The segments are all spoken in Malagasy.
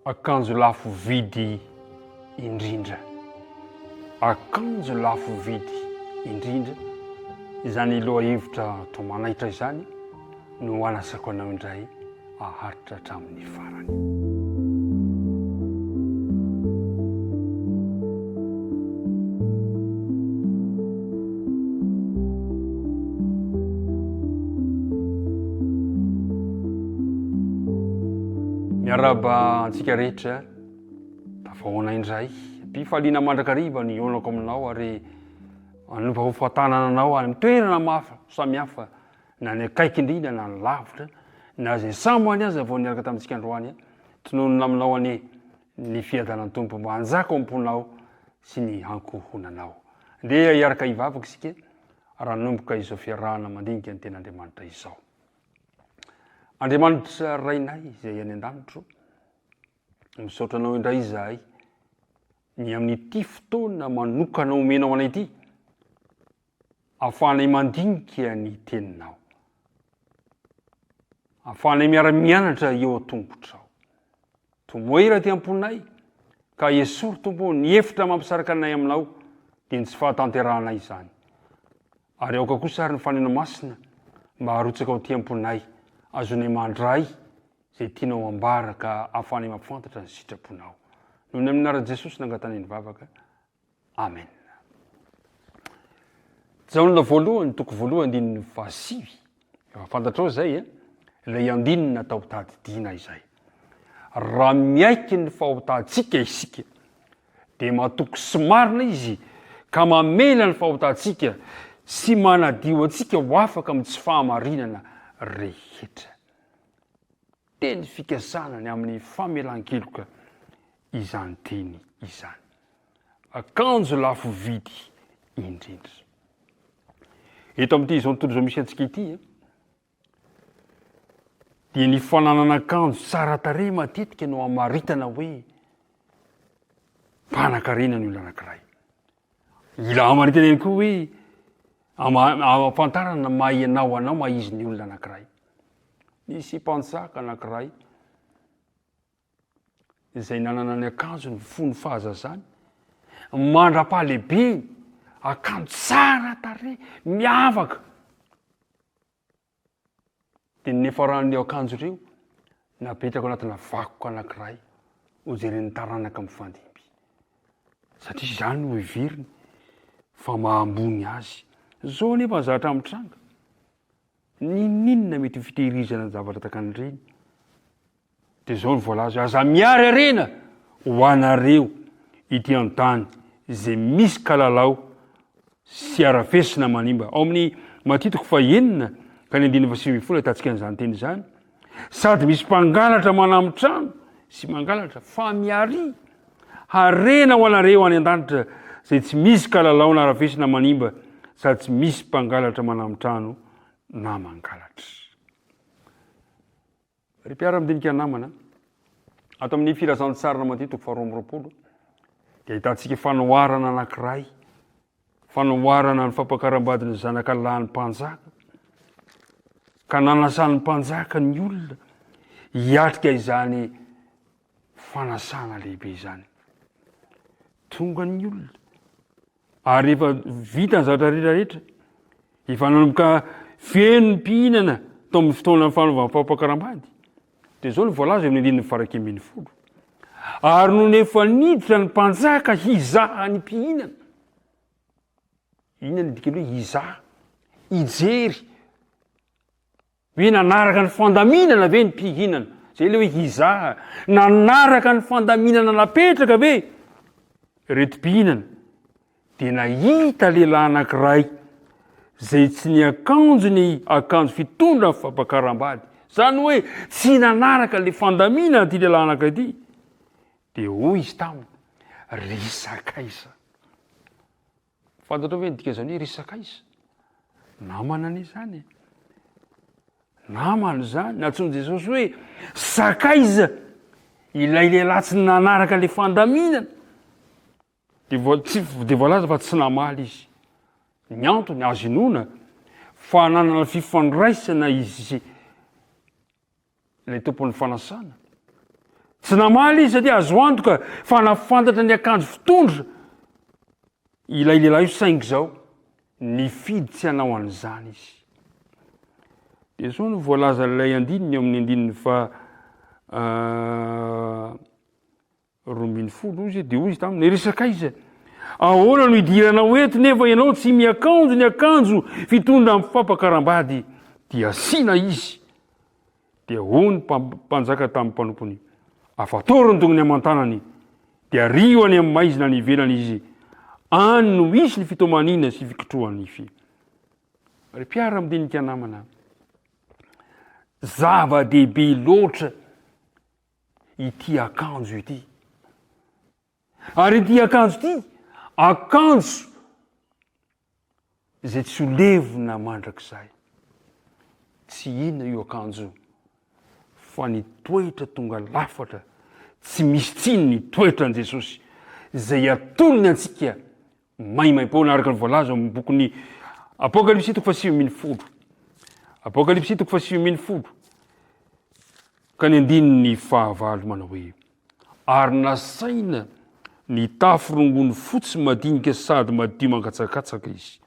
Akanjo lafo vidy indrindra. Akanjo lafo vidy indrindra, izany lohahevitra toa manaitra izany no anasako anao indray aharitra hatramin'ny farany. Miarahaba antsika rehetra tafahoana indray mpifaliana mandrakariva ny onako aminao ary anompa ho fatanana anao any toerana mafy samihafa na ny akaiky indrindra na ny lavitra na izay sambo any aza vao niaraka tamintsika androany tononina aminao any ny fiadanan Tompo mba hanjaka ao amponao sy ny ankohonanao. Ndeha hiaraka hivavaka isika ranomboka izao fiarahana mandinika ny ten'Andriamanitra izao. Andriamanitra Rainay izay any an-danitro, misaotra anao indray izahay ny amin'ity fotoana manokana omenao anay ity. Ahafahanay mandinika ny Teninao. Ahafahanay miara-mianatra eo an-tongotrao. Tomoe iray aty am-ponay, ka esory, Tompo ô, ny efitra mampisaraka anay Aminao, dia ny tsy fahatanterahanay izany. Ary aoka kosa àry ny Fanahy Masina mba harotsaka ao aty am-ponay, azonay mandray izay tianao hambara, ka ahafahanay mampifantatra ny sitraponao. Noho ny amin'ny anaran'i Jesosy nangatanahay ny vavaka. Amen. Jaona voalohany, toko voalohany, andininy fahasivy. Efa fantatrao izay, eh? ilay andinina tao tadidiana izay. Raha miaiky ny fahotantsika isika, dia matoky sy marina izy ka mamela ny fahotantsika sy manadio antsika ho afaka amin'ny tsy fahamarinana rehetra. Teny fikasana ny amin'ny famelan-keloka izany teny izany. Akanjo lafo vidy indrindra. Eto amin'ity izao tontolo izao misy antsika ity dia ny fananana akanjo tsara tarehy matetika no amaritana hoe mpanankarena ny olona anankiray. Ilamany tena ihany koa hoe ama- ahafantarana ny maha ianao anao, maha izy ny olona anankiray. Nisy mpanjaka anankiray izay nanana ny akanjony fony ny fahazazany, mandra-pahalehibeny, akanjo tsara tarehy, miavaka. Dia ny niafaran'ireo akanjo ireo napetrako anatina vakoka anankiray hojeren'ny taranaka mifandimby. Satria izany no heveriny fa maha ambony azy. Izao anefa ny zavatra mitranga. N'inon'inona mety ho fitehirizana ny zavatra takan'ireny. Dia izao no voalaza hoe, Aza miary harena ho anareo ity an-tany izay misy kalalao sy harafesina manimba. Ao amin'ny Matia toko fahenina ka ny andininy fahasivy ambin'ny folo ahitantsika an'izany teny izany. Sady misy mpangalatra manam-trano sy mangalatra, fa miary harena ho anareo any an-danitra izay tsy misy kalalao na harafesina manimba sady tsy misy mpangalatra manam-trano na mangalatra. Ry mpiara-midinika namana, ato amin'ny Filazantsara Madio toko faharoa amby roapolo dia ahitantsika fanoharana anankiray, fanoharana ny fampakaram-badin'ny zanaka lahin'ny mpanjaka, ka nanasan'ny mpanjaka ny olona hiatrika izany fanasana lehibe izany. Tonga ny olona Ary rehefa vita ny zavatra rehetrarehetra, efa nanomboka feno ny mpihinana tao amin'ny fotoanan'ny fanaovana fampakaram-bady, dia izao no voalaza eo amin'ny andininy faraika ambin'ny folo, Ary nony efa niditra ny mpanjaka hizaha ny mpihinana, inona no dikany hoe hizaha? hijery, Hoe nanaraka ny fandaminana ve ny mpihinana? Zay le hoe hizaha. Nanaraka ny fandaminana napetraka ve reto mpihinana? De nahita lehilahy anankiray zay tsy niakanjo ny akanjo fitondra fampakaram-bady. Zany hoe tsy nanaraka le fandaminana ty lehilahy anankiray ty. De hoy izy taminy, ry sakaiza, Fantatrao ve ny dikan'izany hoe ry sakaiza? Namana anie izany e. Namana izany. Nantsoin'i Jesosy hoe sakaiza ilay lehilahy tsy nanaraka ilay fandaminana. Dia voa- tsy- dia voalaza fa tsy namaly izy. Ny antony azo inoana fa nanana fifandraisana izy Ilay Tompon'ny fanasana. Tsy namaly izy satria azo antoka fa nafantatra ny akanjo fitondra ilay lehilahy io saingy izao nifidy tsy hanao an'izany izy. Dia izao no voalazan'ilay andininy ao amin'ny andininy fa ah, roa ambin'ny folo izy dia hoy izy taminy resaka aiza ahoana no idiranao eto nefa ianao tsy miakanjo ny akanjo fitondra amin'ny fampakaram-bady dia asiana izy dia hoy ny mpanjaka tamin'ny mpanompony afatoro ny tongony aman-tanany dia ario any amin'ny maizina any ivelany izy any no hisy ny fitomaniana sy fikitrohany ify ry mpiara midinika namana zava-dehibe loatra ity akanjo ity. Ary ity akanjo ity, akanjo izay tsy ho levona mandrakizay. Tsy inona io akanjo fa ny toetra tonga lafatra tsy misy tsiny ny toetran'i Jesosy izay atolony antsika maimaim-poana araka ny voalaza ao amin'ny bokin'ny Apokalypsy toko fahasivy ambin'ny folo. Apokalypsy toko fahasivy ambin'ny folo. Ka ny andininy fahavalo manao hoe ary nasaina nitafy rongony fotsy madinika sady madio mangatsakatsaka izy.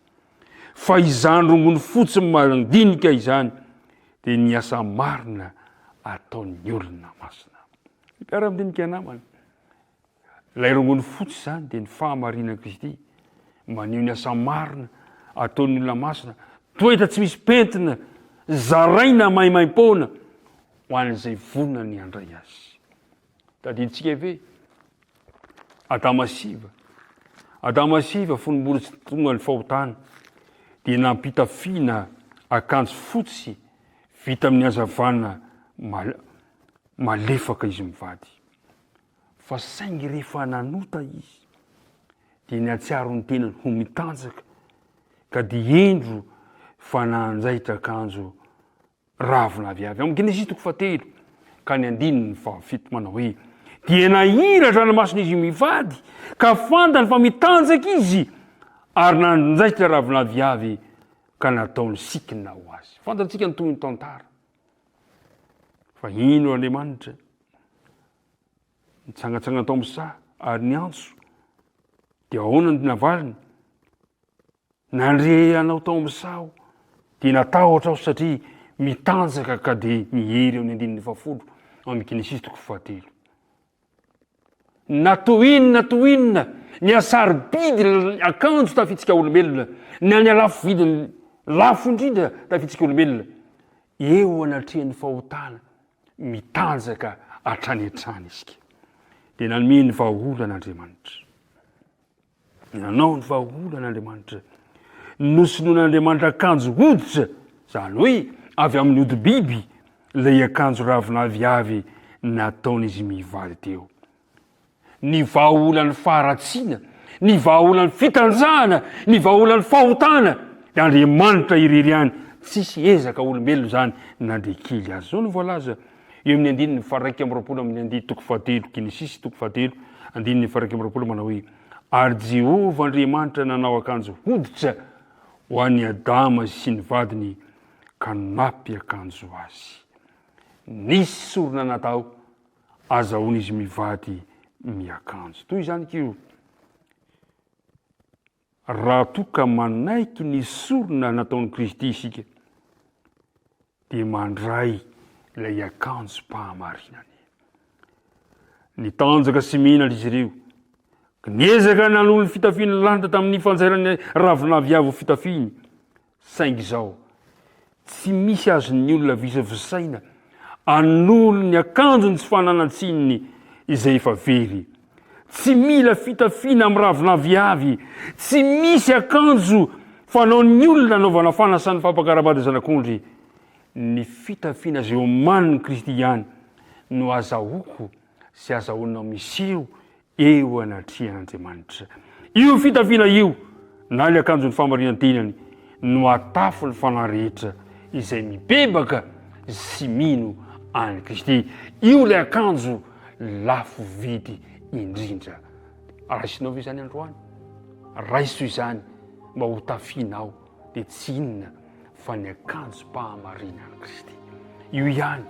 Fa izany rongony fotsy mandinika izany dia ny asa marina ataon'ny olona masina. Mpiara-midinika namana. Ilay rongony fotsy izany dia ny fahamarinan'i Kristy, maneho ny asa marina ataon'ny olona masina, toetra tsy misy pentina zaraina maimaim-poana ho an'izay vonona ny handray azy. Tadidintsika ve Adama sy Iva? Adama sy Iva fony mbola tsy tonga ny fahotana dia nampitafiana akanjo fotsy vita amin'ny hazavana malefaka izy mivady. Fa saingy rehefa nanota izy, dia nihatsiaro ny tenany ho mitanjaka, ka dia hendro fa nanjaitra akanjo ravina avy avy ao. Genesisy toko fahatelo ka ny andininy fahafito manao hoe, dia nahiry an-dranomasina izy mivady, ka fantany fa mitanjaka izy, ary nanjaitra ravina avy avy ka nataony sikina ho azy. Fantatsika ny tohin'ny tantara. Fa ino Andriamanitra? Nitsangantsangana tao amin'ny saha ary niantso. Dia ahoana ny navaliny? Nandre anao tao amin'ny saha aho, dia natahotra aho satria mitanjaka ka dia mihery amin'ny andininy fahafolo amin'ny Genesisy toko fahatelo. Na toa inona na toa inona ny hasarobidy ny akanjo tafitsika olombelona, na ny halafo vidiny lafo indrindra tafitsika olombelona, eo anatrehan'ny fahotana mitanjaka hatrany hatrany isika. Dia nanome ny vahaolana Andriamanitra. Nanao ny vahaolana Andriamanitra. Nosonoin'Andriamanitra akanjo hoditra, izany hoe avy amin'ny hodi-biby, ilay akanjo ravinavy avy nataon'izy mihivaly teo. Ny vahaolan'ny faharatsiana, ny vahaolan'ny fitanjahana, ny vahaolan'ny fahotana, dia Andriamanitra irery ihany, tsisy ezaka olombelona izany na dia kely aza. Izao no voalaza. Eo amin'ny andininy faha-iraika amby roapolo amin'ny andihy toko fahatelo, Genesisy toko fahatelo, andininy faha-iraika amby roapolo, manao hoe, Ary Jehovah Andriamanitra nanao akanjo hoditra ho an'i Adama sy ny vadiny, ka nampiakanjo azy. Nisy sorona natao azahoan'izy mivady miakanjo. Toy izany koa, Raha toa ka manaiky ny sorona nataon'i Kristy isika, dia mandray ilay akanjom-pahamarinany. Nitanjaka sy menatra izy ireo. Niezaka nanolo ny fitafiany lany tamin'ny fanjairany ravinavy avo fitafiny, Saingy izao, tsy misy azon'ny olona visavisaina anolo ny akanjony tsy fananan-tsininy izay efa very. Tsy mila fitafiana miraviravy avy, tsy misy akanjo fanaon'ny olona anaovana fanasan'ny fampakaram-bady zanak'ondry. Ny fitafiana izay omanin'i Kristy ihany no azahoako sy azahoanao miseho eo anatrehan'Andriamanitra. Io fitafiana io, na ny akanjon'ny famarihan-tenany, no hahatafy ny fanahy rehetra izay mibebaka sy mino an'i Kristy. Io ilay akanjo lafo vidy indrindra. Raisinao ve izany androany? Raiso izany mba hotafianao. dia tsy inona fa ny akanjom-pahamarinan'i Kristy. Io ihany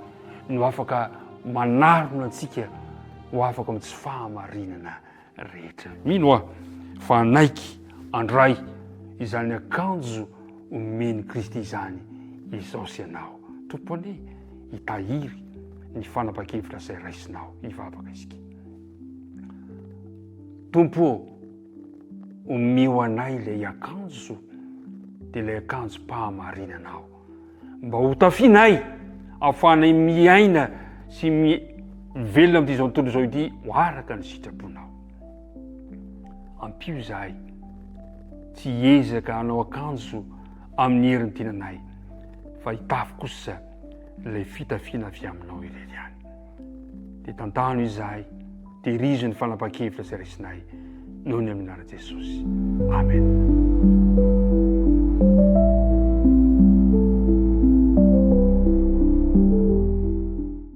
no afaka manarona antsika ho afaka amin'ny tsy fahamarinana rehetra. Mino aho fa hanaiky andray izany akanjo omen'i Kristy izany izao sy ianao. Tompone, hitahiry ny fanapahan-kevitra izay raisinao. Hivavaka isika. Tompo Omeo anay ilay akanjo dia ilay akanjom-pahamarinana aho, mba hotafianay ahafahanay miaina sy mivelona amin'ity izao tontolo izao ity ho araka ny sitraponao. Ampio izahay tsy hiezaka hanao akanjo amin'ny herin'ny tenanay, fa hitafy kosa ilay fitafiana avy aminao irery ihany. dia tantano izahay, terizo ny fanapahan-kevitra izay raisinay noho ny amin'ny anaran'i Jesosy. Amen.